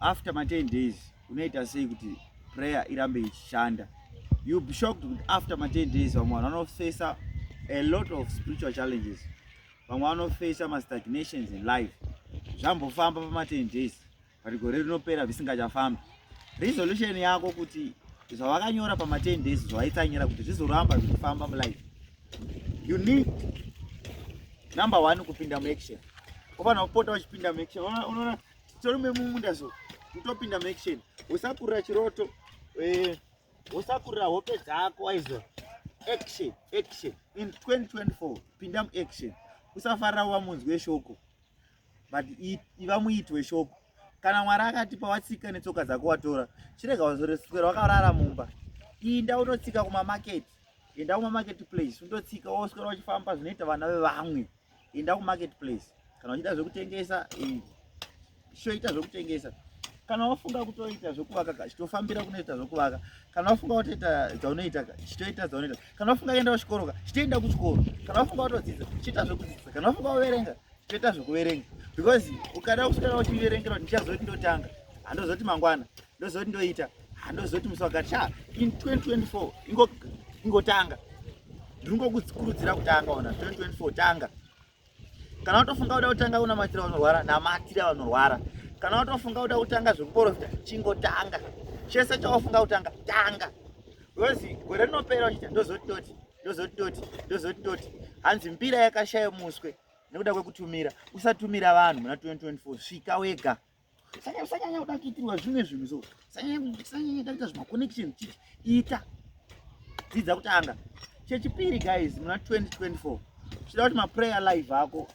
after ma 10 days unoita sei kuti prayer irambe ichishanda you be shocked kuti after ma 10 days vamwe vanhu vanofesa a lot of spiritual challenges vamwe vanofesa ma stagnations in life zvambofamba pama 10 days but gore rinopera zvisingachafambi resolution yako kuti zvavakanyora pama 10 days zvawaitsanyira kuti zvizoramba zvichifamba mulife you need number one kupinda muaction ufanira kupota uchipinda muaction unoona Tirume mumunda so kutopinda maction usakurira chiroto eh, usakurira hope dzako aizo action action in 2024 pinda muaction usafarira uva munzwi weshoko but iva muiti weshoko kana mwari akatipa watsika netsoka dzako watora chirega wazoreswera wakarara mumba inda unotsika kumamaketi enda kumamaketi place undotsika woswera uchifamba zvinoita vana vevamwe enda kumarket place kana uchida zvekutengesa shoita zvekutengesa kana wafunga kutoita zvekuvaka ka chitofambira kunoita zvekuvaka kana wafunga kutoita dzaunoita ka chitoita dzaunoita kana wafunga kuenda kuchikoro ka chitoenda kuchikoro kana wafunga kutodzidza chiita zvekudzidza kana wafunga kuverenga chitoita zvekuverenga because ukada kusvika uchiverengera kuti ndichazoti ndotanga handozoti mangwana ndozoti ndoita handozoti musi wakati sha in 2024 ingo ingotanga ndiri ngokukurudzira kutanga ona 2024 tanga kana watofunga kuda kutanga kunamatira vanorwara namatira vanorwara kana watofunga kuda kutanga zvekuporofita chingotanga chese chawafunga kutanga tanga bcause gore rinopera uchiti ndozoti toti ndozoti toti ndozoti toti hanzi mbira yakashaya muswe nekuda kwekutumira usatumira vanhu muna 2024 svika wega sanya sanyanya kuda kuitirwa zvimwe zvinhu so sanyanya sanyanya kuita zvima connection chii ita dzidza kutanga chechipiri guys muna 2024 chida kuti maprayer live ako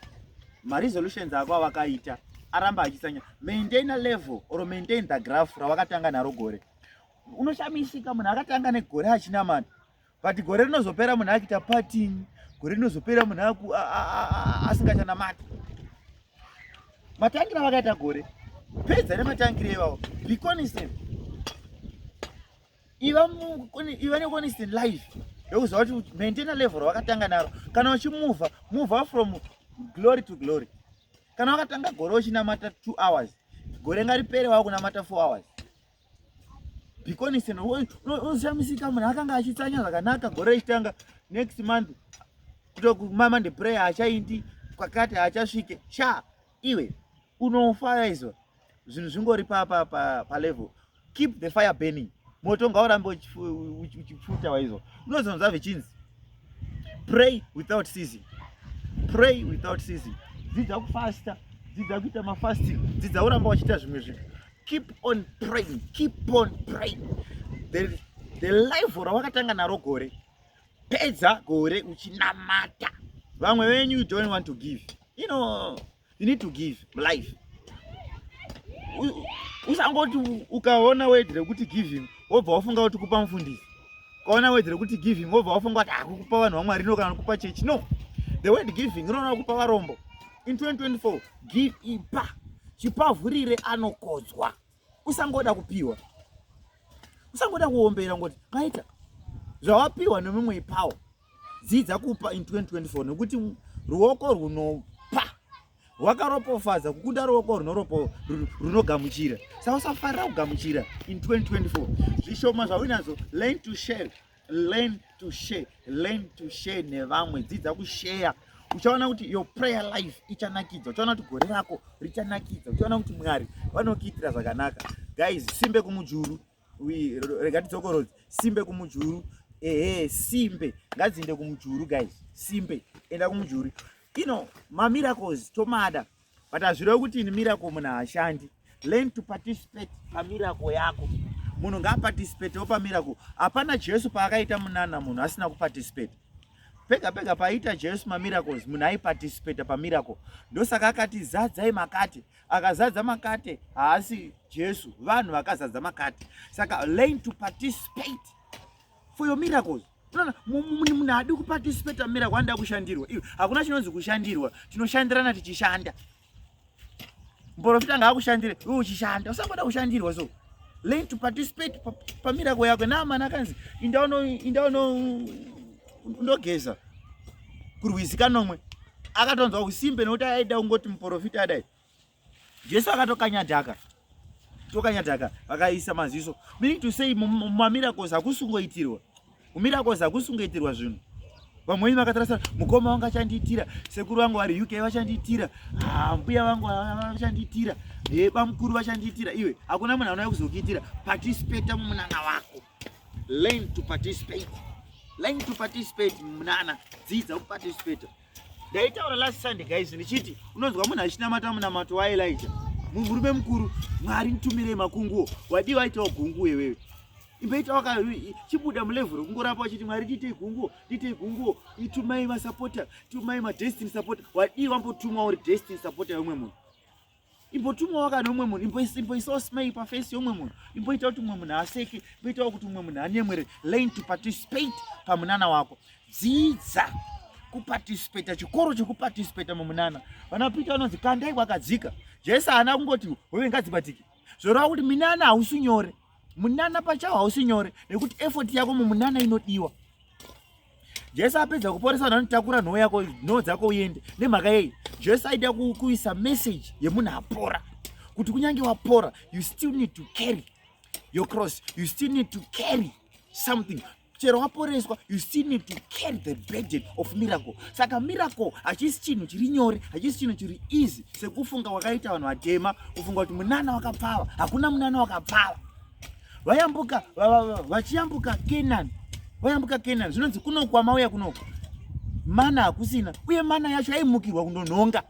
maresolutions ako awakaita aramba achisanya maintain a level or maintain the graph rawakatanga naro gore unoshamisika munhu akatanga negore achinamata but gore rinozopera munhu akita parting gore rinozopera munhu aku asingachanamati matangira vakaita gore pedza nematangira ivavo be constant iva iva neconstant life yokuzova kuti maintaina level rawakatanga naro kana uchimuvha muvha from glory to glory kana wakatanga gore uchinamata two hours gore ngaripere wakunamata four hours bikoniseno unoshamisika munhu akanga achitsanya zvakanaka gore richitanga next month kutokumama ndeprayer achaindi kwakati achasvike sha iwe unofaizwa zvinhu zvingori palevel keep the fire burning moto ngaurambe uchipfuta waizwa unozonzwa vichinzi pray without season pray without season dzidza kufasta dzidza kuita mafasting dzidza uramba wachiita zvimwe zvinhu keep on praying keep on praying the, the life rawakatanga naro gore pedza gore uchinamata vamwe venyu you don't want to give you know you need to give life usangoti ukaona wedhi rekuti giving wobva wafunga kuti kupa mufundisi ukaona wedhi rekuti giving wobva wafunga kuti akukupa ah, vanhu vamwari no kana kupa chechi no the word giving rinoona kupa varombo in 2024 give ipa chipavhurire anokodzwa usangoda kupiwa usangoda kuombera ngoti maita zvawapiwa nemumwe ipawo dzidza kupa in 2024 nekuti ruoko rwunopa rwakaropofadza kukunda ruoko runoropo runogamuchira saka usafarira kugamuchira in 2024 zvishoma zvaunazvo learn to share learn to share learn to share nevamwe dzidza kusheya uchaona kuti your prayer life ichanakidza uchaona kuti gore rako richanakidza uchaona kuti mwari vanokuitira zvakanaka guys simbe kumujuru rega tidzokorodzi simbe kumujuru ehe simbe ngadziinde kumujuru guys simbe enda kumujuru ino mamiracles tomada but hazvirevi kuti ini miracle munhu haashandi learn to participate pamiracle yako munhu ngaaparticipatewo pamiracle hapana jesu paakaita munana munhu asina kuparticipate pega pega paaita jesu mamiracles munhu aiparticipata pamiracle ndosaka akati zadzai makate akazadza makate haasi jesu vanhu vakazadza makate saka learn to participate for your miracles unoona munhu haadi kuparticipata miracle anoda kushandirwa iyo hakuna chinonzi kushandirwa tinoshandirana tichishanda mporofita ngaakushandire iwe uchishanda usangoda kushandirwa so learn to participate pamirako yako naamana akanzi indaunondogeza kurwizi kanomwe akatonzwa usimbe nokuti aida kungoti muporofita adai jesu akatokanya dhaka tokanya dhaka vakaisa maziso meaning to say mumamiracles hakusungoitirwa mumiracles hakusungoitirwa zvinhu vamweni vakatarasa mukoma wangu achandiitira sekuru vangu vari uk vachandiitira ah, mbuya vangu vachandiitira eh, bamukuru vachandiitira iwe hakuna munhu anouya kuzokuitira patisipeta mumunana wako learn to participate learn to participate munana dzidza kuparticipata ndaitaura last sunday guys ndichiti unonzwa munhu achinamata munamato waelija murume mukuru mwari nitumirei makunguwo wadii waitawo gungu iwewe imbaita waka chibuda mulevhuro kungorapa wachiti mwari ndiitei gunguwo ndiitei gunguwo itumai masapota tumai madestiny sapota wadii wambotumwa uri destiny sapota yeumwe munhu imbotumawo kana umwe munhu imboisawo smile paface yeumwe munhu imboitawo kuti umwe munhu aseke imboitawo kuti umwe munhu anyemwere learn to participate pamunana wako dzidza kuparticipata chikoro chekuparticipata mumunana vana pita vanonzi kandai kwakadzika jesu haana kungoti hove ngadzibatike zvoreva kuti minana hausi nyore munana pachawo hausi nyore nekuti effort yako mumunana inodiwa jesu apedza kuporesa vanhu anotakura nhoo yako nhoo dzako uende nemhaka yei jesu aida kuisa message yemunhu apora kuti kunyange wapora you still need to carry your cross you still need to carry something chero waporeswa you still need to carry the burden of miracle saka miracle hachisi chinhu chiri nyore hachisi chinhu chiri easy sekufunga wakaita vanhu vatema kufunga kuti munana wakapfava hakuna munana wakapfava vayambuka vachiyambuka kenani vayambuka kenani zvinonzi kunoku kwamauya kunoku mana hakusina uye mana yacho aimukirwa kundonhonga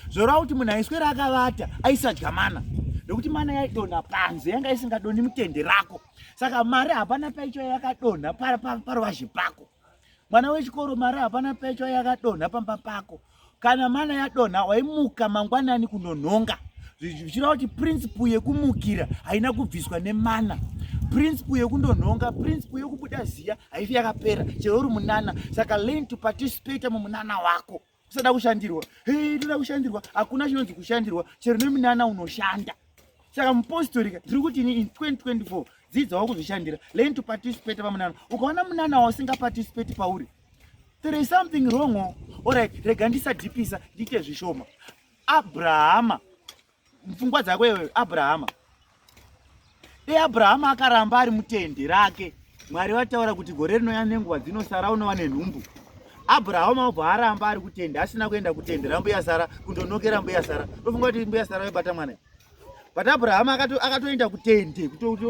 zvoreva kuti munhu aiswera akavata aisadya mana nekuti mana yaidonha panze yanga isingadoni mutende rako saka mari hapana paicho yakadonha paruvazhe pako mwana wechikoro mari hapana paicho yakadonha pamba pako kana mana yadonha waimuka mangwanani kunonhonga zvichireva kuti principle yekumukira haina kubviswa nemana principle yekundonhonga principle yekubuda ziya haifi yakapera chero uri munana saka learn to participate mumunana wako usada kushandirwa hey, toda kushandirwa hakuna chinonzi kushandirwa chero neminana unoshanda saka mupostorika ndiri kuti ini in 2024 dzidzawo kuzvishandira learn to participate pamunana ukaona munana wausingaparticipate pauri there is something wrong orit rega ndisadhipisa ndiite zvishoma abrahama Pfungwa dzako iwe Abrahama. Dai Abrahama akaramba ari mutende rake, Mwari vataura kuti gore rinouya nenguva dzinosara unova nenhumbu. Abrahama obva aramba ari kutende, asina kuenda kutende rambuya Sara kundonokera mbuya Sara. Ndofunga kuti mbuya Sara vaibata mwana. But Abrahama akatoenda kutende kutoti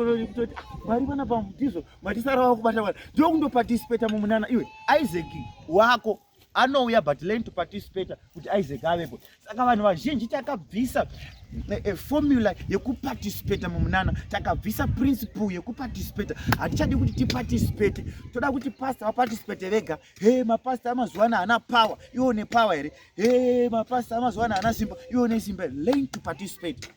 Mwari vana pamutizo, Mwari Sara vakubata mwana. Ndokundoparticipate mumunana iwe Isaac wako. anouya but learn to participate kuti isaac avepo saka vanhu vazhinji takabvisa eh, eh, formula yekuparticipate mumunana takabvisa principle yekuparticipate hatichadi kuti tiparticipate toda kuti pasta vaparticipate vega he mapasta amazuva ano haana power iwo nepower here he mapasta amazuva ano haana simba iwo nesimba learn to participate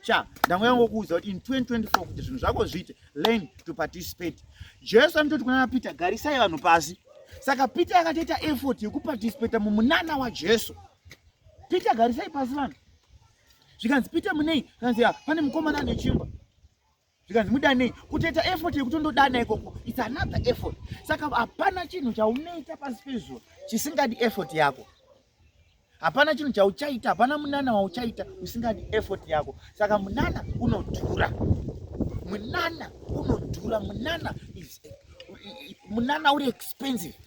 sha ndango yangokuudza kuti in 2024 kuti zvinhu zvako zviite learn to participate jesu anototi kunana peter garisai vanhu pasi saka peter akatoita effort yekuparticipata mumunana wajesu peter garisai pasi vanhu zvikanzi peter munei kanzi ya pane mukomana ane chimba zvikanzi mudanei kutoita effort yekutondodana ikoko its another effort saka hapana chinhu chaunoita pasi pezuva chisingadi effort yako hapana chinhu chauchaita hapana munana wauchaita usingadi effort yako saka munana unodhura munana unodhura munana is munana uri expensive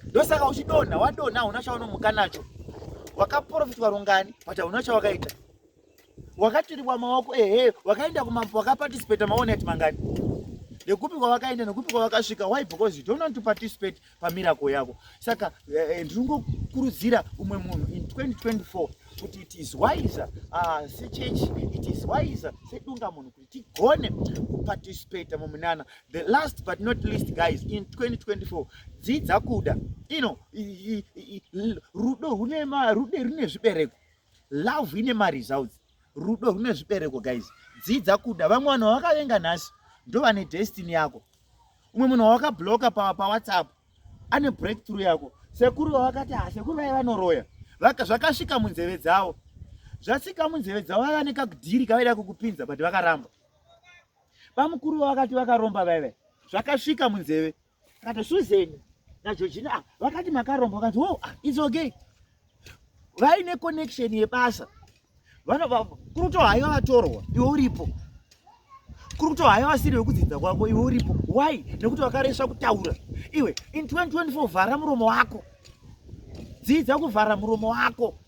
ndosaka uchidonha wadonha hauna chaunomuka nacho wakaprofitwa rungani but hauna chawakaita wakaturibwa maoko ehe wakaenda kumambo wakaparticipate maone ati mangani nekupi kwavakaenda nekupi kwavakasvika why because you don't want to participate pamiracle yako saka eh, eh, ndiri ngokurudzira umwe munhu in 2024 kuti it is wiser ah, sechechi it is wiser sedunga munhu kuti tigone kuparticipate mumunana the last but not least guys in 2024 dzidza kuda ino rudo rune zvibereko love ine maresults rudo rune zvibereko guys dzidza kuda vamwe vanhu vawakavenga nhasi ndovane destiny yako umwe munhu wawakabloka pawhatsapp pa ane breakthrough yako sekuru vavakati ha ah, sekuru vaiva vanoroya zvakasvika munzeve dzavo zvasvika munzeve dzavo vaiva nekakudhiri kavaida kukupinza but vakaramba bamukuru vavakati vakaromba vaive zvakasvika munzeve Kana Susan na Georgina ah, vakati makaromba vakati wo oh, ah, it's okay. Vaine connection yebasa. Vano kuri kuto haiwa vatorwa iwe uripo. Kuri kuto haiwa vasiri vekudzidza kwako iwe uripo. Why? Nekuti vakaresva kutaura. Iwe in 2024 vhara muromo wako. Dzidza kuvhara muromo wako.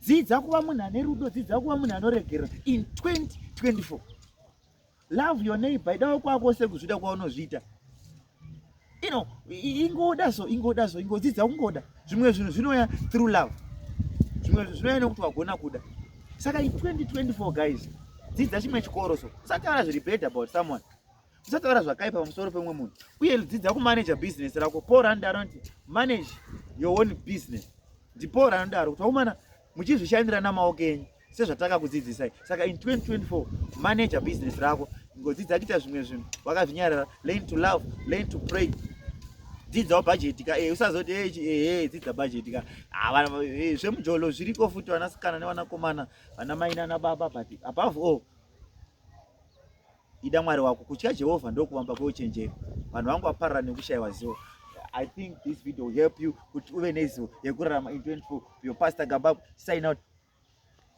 Dzidza kuva munhu ane rudo, dzidza kuva munhu anoregerera in 2024. love your neighbor idawo kwako sekuzvida kwaunozviita you know ingoda so ingoda so ingodzidza kungoda zvimwe zvinhu zvinouya through love zvimwe zvinhu zvinouya nekuti wagona kuda saka 2024 guys dzidza chimwe chikoro so usataura zviri bad about someone usataura zvakaipa pamusoro pemumwe munhu uye dzidza kumanaja business rako paul rand anoti manage your own business ndipaul ranodaro kuti waumana muchizvishandira namaoko enyu sezvatakakudzidzisai saka in 2024 manager business rako ngodzidza kuita zvimwe zvinhu wakazvinyarara learn to love learn to pray dzidzawo bhajeti ka eh, usazoti eh, eh, dzidza bhajeti ka ah, zvemujolo zviriko futi vanasikana nevanakomana vana mai nana baba but above all ida mwari wako kutya jehovha ndokuvamba kweuchenjeri vanhu vangu vaparara nekushayiwa zivo I think this video will help you. Uve nezivo yekurarama in 24. Your pastor Gabab, sign out.